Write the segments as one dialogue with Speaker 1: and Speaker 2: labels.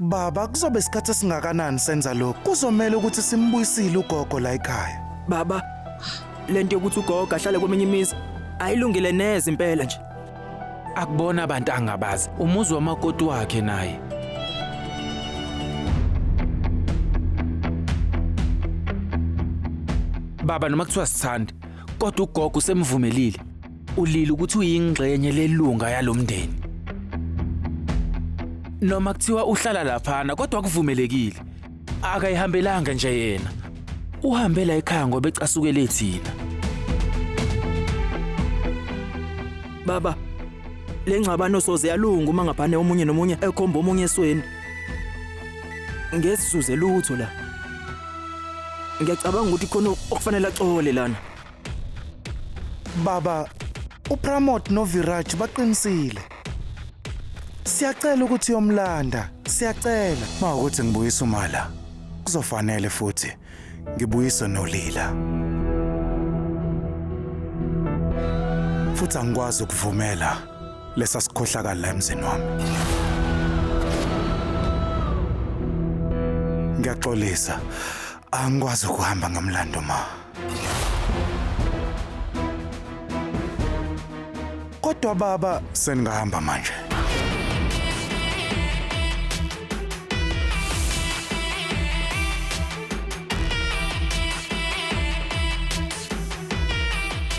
Speaker 1: Baba, kuzobe isikhathi esingakanani senza lokhu? Kuzomele ukuthi simbuyisile ugogo la ekhaya. Baba,
Speaker 2: lento yokuthi ugogo ahlale kweminye imizi ayilungile neze impela nje. Akubona
Speaker 3: abantu angabazi. Umuzi wamakoti wakhe naye. Baba noma kuthiwa sithandi, kodwa ugogo usemvumelile. Ulile ukuthi uyingxenye lelunga yalomndeni. Noma kuthiwa uhlala laphana kodwa kuvumelekile. Akayihambelanga nje yena. Uhambe la ekhaya ngoba ecasukele thina.
Speaker 2: Baba, le ngxabano soze yalunga uma ngaphane omunye nomunye ekhomba omunye esweni. Ngesizuze lutho la. Ngiyacabanga ukuthi khona okufanele axole lana. Baba,
Speaker 1: uPramod noViraj baqinisile. Siyacela ukuthi uyomlanda, siyacela. Uma ukuthi ngibuyisa umala, kuzofanele futhi ngibuyise nolila. Futhi angikwazi ukuvumela lesa sikhohlakala la emzini wami. Ngiyaxolisa. Angikwazi ukuhamba ngamlando ma. Kodwa baba seningahamba manje.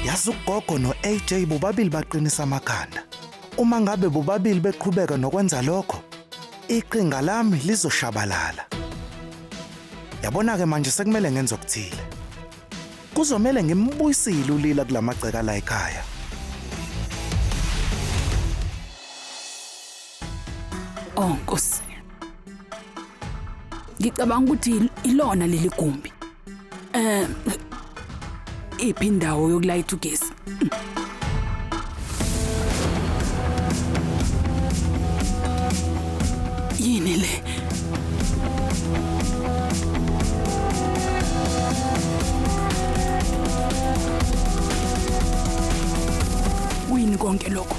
Speaker 1: Yazi ugogo no-AJ bobabili baqinisa amakhanda. Uma ngabe bobabili beqhubeka nokwenza lokho, iqinga lami lizoshabalala. Yabona-ke manje sekumele ngenze okuthile. Kuzomele ngimbuyisile ulila kula magceka la ekhaya.
Speaker 4: Oh Nkosi. Ngicabanga ukuthi ilona leli gumbi. Eh iphi indawo yokulayitha ugesi? Yini le? Kuyini konke lokho?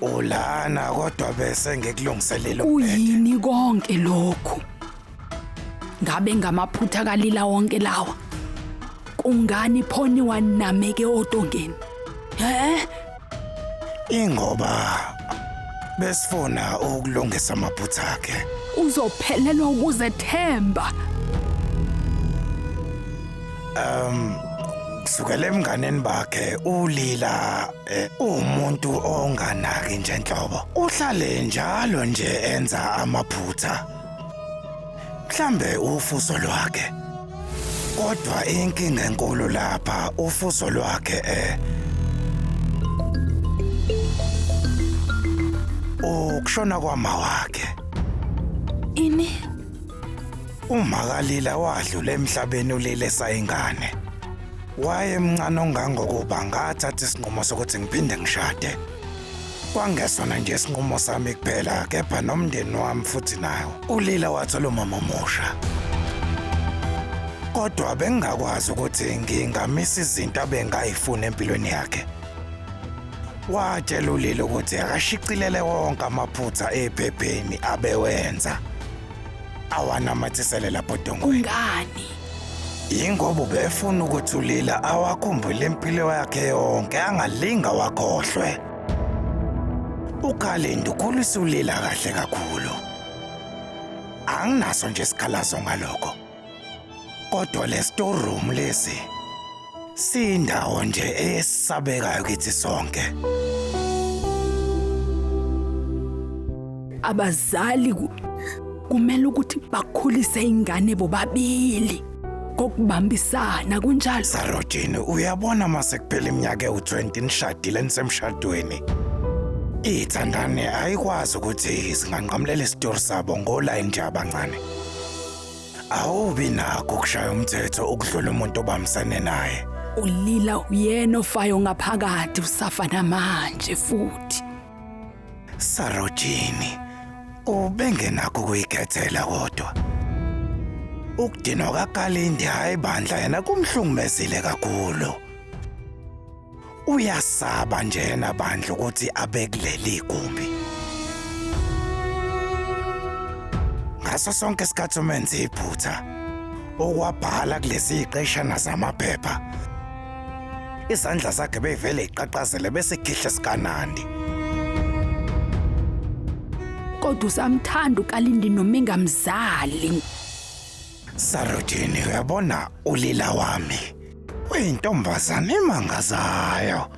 Speaker 1: Ulana kodwa bese ngikulungiselele Kuyini konke
Speaker 4: lokhu? Ngabe ngamaphutha kalila wonke lawa. Kungani phoni wanameke otongeni? He?
Speaker 1: Ingoba besifuna ukulungisa amaphutha akhe. Uzophelelwa
Speaker 4: ukuzethemba.
Speaker 1: Um kusukela emnganeni bakhe ulila Eh, umuntu onganaki nje nhlobo uhlale njalo nje enza amaphutha mhlambe ufuso lwakhe kodwa inkinga enkulu lapha ufuso lwakhe eh ukushona kwama wakhe
Speaker 4: Ini?
Speaker 1: umakalila wadlula emhlabeni ulele sayingane Wayemncane ongangokuba ngathatha isinqumo sokuthi ngiphinde ngishade. Kwangesona nje isinqumo sami kuphela kepha nomndeni wami futhi nawo. ULila wathola umama omusha. Kodwa bengingakwazi ukuthi ngingamisa izinto abengayifuni empilweni yakhe. Watshela uLila ukuthi akashicilele wonke amaphutha ephepheni abewenza awanamathisele lapho dongweni. Ungani?
Speaker 4: Yingoba
Speaker 1: ubefuna ukuthi ulila awakhumbule impilo yakhe yonke angalinga wakhohlwe. Ukhalindo ukhulisa ulila kahle kakhulu. Anginaso nje isikhalazo ngalokho. Kodwa le storeroom lesi Siyindawo nje esabekayo kithi sonke.
Speaker 4: Abazali ku- kumele ukuthi bakhulise ingane bobabili kokubambisana kunjalo. Sarojini,
Speaker 1: uyabona mase kuphela iminyaka ewu-20 nishadile nisemshadweni. Ithandane ayikwazi ukuthi singanqamulela isitori sabo ngolayini nje abancane. Awubi nakho ukushaya umthetho ukudlula umuntu obambisene naye. Ulila
Speaker 4: uyena ofayo ngaphakathi usafa namanje futhi. Sarojini,
Speaker 1: ubengenakho ukuyikhethela kodwa. Ukudinwa kaKalindi hayi bandla yena kumhlungumezile kakhulu. Uyasaba njena bandla ukuthi abe kuleli gumbi. Ngaso sonke isikhathi umenze iphutha okwabhala kulezi iqeshana zamaphepha. Izandla zakhe bevele iqaqazele bese khihla sikanandi.
Speaker 4: Kodwa usamthanda ukalindi noma engamzali.
Speaker 1: Sarojini uyabona ulila wami uyintombazane emangazayo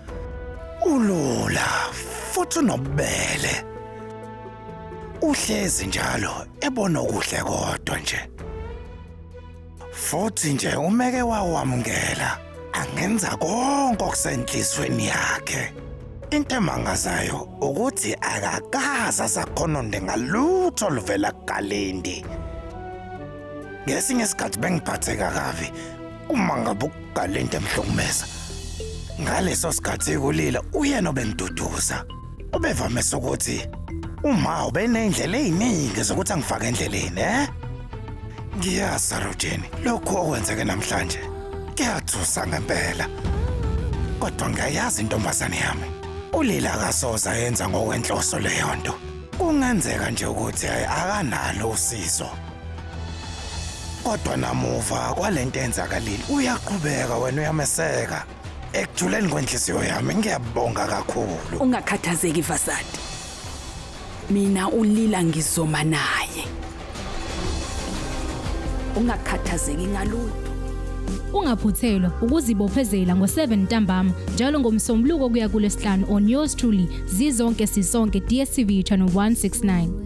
Speaker 1: ulula futhi unobubele uhlezi njalo ebona okuhle kodwa nje futhi nje umeke wawamukela angenza konke okusenhlizweni yakhe. Into emangazayo ukuthi akakaza zakhononde ngalutho oluvela kuGalindi. Ngesinye isikhathi bengiphatheka kabi uma ngabe uGalindi emhlukumeza. Ngaleso sikhathi kulila uyena obengiduduza. Ubevamise ukuthi uma ubeney'ndlela ey'ningi zokuthi angifake endleleni eh? Ngiyazi Sarojeni, lokhu okwenzeke namhlanje kuyathusa ngempela. Kodwa ngiyayazi intombazane yami. ULila akasoze ayenza ngokwenhloso leyo nto. Kungenzeka nje ukuthi akanalo usizo. Kodwa namuva kwalento enzakalile uyaqhubeka wena uyameseka. ekujuleni kwenhliziyo yami ngiyabonga kakhulu ungakhathazeki
Speaker 4: vasadi mina ulila ngizoma naye ungakhathazeki ngalutho
Speaker 5: Ungaphuthelwa ukuzibophezela ngo-7 ntambama njalo ngomsombuluko kuya kulesihlanu on yours truly zizonke sisonke DStv channel 169.